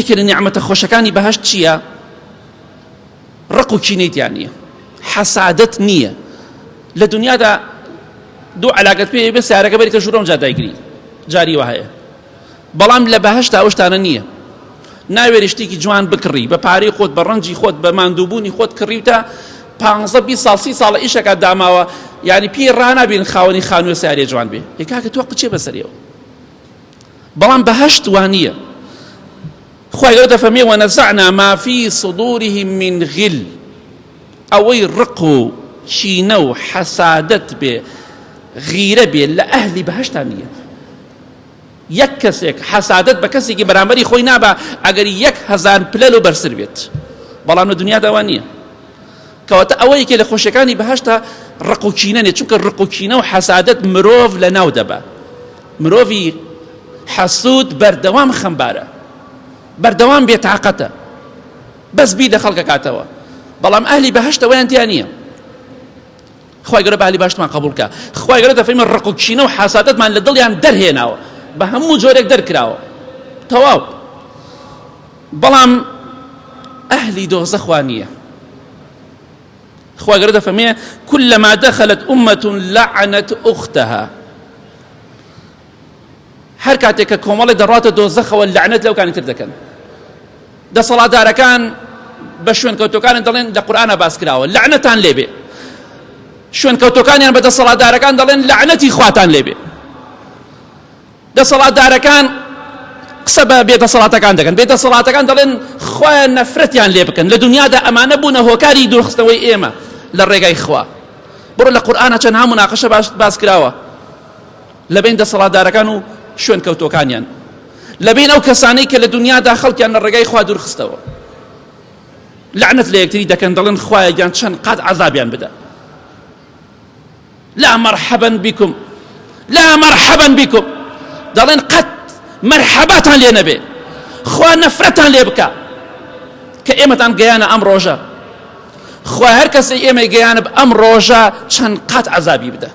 یەکێ لە نیعمەتە خۆشەکانی بەهەشت چییە؟ ڕق و کینەی تیا نییە حەسادت نییە لە دنیادا دوو علاگەت پێ بێ سارەکە بەریتە ژوورەم جا دایگری جاری وە هەیە بەڵام لە بەهشتا ئەوشتانە نییە ناوێری شتێکی جوان بکڕی بە پارەی خۆت بە ڕەنجی خۆت بە ماندووبوونی خۆت کڕیوتە پ بی ساڵسی ساڵە ئیشەکە داماوە یعنی پێی ڕنابین خاوەنی خانوە سارێ جوان بێ یکاکە تۆ قچێ بەسەرەوە بەڵام بەهەشت وانیە خوای ئەو دەفەرمێ وەنەزعنا ما فی صدورهم من غل ئەوەی ڕق و چینە و حەسادەت بێ غیرە بێ لە ئەهلی بەهشتا نییە یەک کەسێک حەسادت بە کەسێکی بەرامبەری خۆی نابا ئەگەر یەک هەزار پلەل و بەرسر بێت بەڵام لە دنیا داوا نییە کەواتە ئەوە یەکێ لە خۆشەکانی بەهشتا ڕقوچینە نێ چونکە ڕقوچینە و حەسادت مرۆڤ لە ناو دەبە مرۆڤی حەسود بەردەوام خەمبارە بەردەوام بێ تاقەتە بەس بی لە خەڵکەکاتەوە بەڵام ئەهلی بەهشت ئەویان تیا نییە خی گەرە بالی باشمان قبولکە خی گەرە دەفەیمە ڕق و کینە و حسادتمان لە دڵیان دەرهێناوە بە هەموو جۆرێک دەرکراوە تەواو بەڵام ئەهلی دۆزەخوا نییە خوا گەورە دەفەرمێ كلما دخلت أمة لعنت أختها هەر کاتێک کە کۆمەڵی دەڕاتە دۆزەخەوە لەعنەت لەو کانی تر دەکەن دەسەڵاتدارەکان بە شوێنکەوتەکانی دەڵێن لە قورآە باس کراوە لەعنەتان لێبێ شوێنکەوتەکانیان بە دەسەڵاتدارەکان دەڵێن لەعنەتی خواتان لێبێ دەسەڵاتدارەکان قسە بە بێ دەسەڵاتەکان دەکەن، بێ دەسەڵاتەکان دەڵێن خوایە نەفرەتیان لێ بکەن، لە دونیادا ئەمانە بوونە هۆکاری دوورخستنەوەی ئێمە لە ڕێگای خوا. بڕۆ لە قورئانا چەندها مناقشە باس کراوە لە بین دەسەڵاتدارەکان و شوێنکەوتووەکانیان، لە بین ئەو کەسانەی کە لە دونیادا خەڵکیان لە ڕێگای خوا دوورخستەوە، لەعنەت لە یەکتری دەکەن، دەڵێن خوایە گیان چەند قات عەزابیان بدە. لا مرحبا بكم لا مرحبا بكم دەڵێن قەت مەرحەباتان لێ نەبێ خوا نەفرەتان لێ بکە کە ئێمەتان گەیانە ئەم ڕۆژە خوا هەر کەسی ئێمە گەیانە ئەم ڕۆژە چەند قات عذابی بدە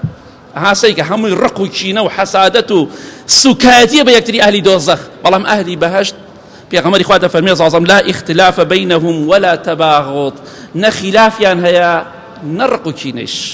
هاسەیکە هەمووی ڕق و چینە و حەسادەت و سوکایەتیە بە یەکتری ئەهلی دۆزەخ بەڵام ئەهلی بەهشت پێغەمەری خوا دەفەرمێ زازم لا اختلاف بینهم ولا تباغض نە خلافیان هەیە نە ڕق و چینش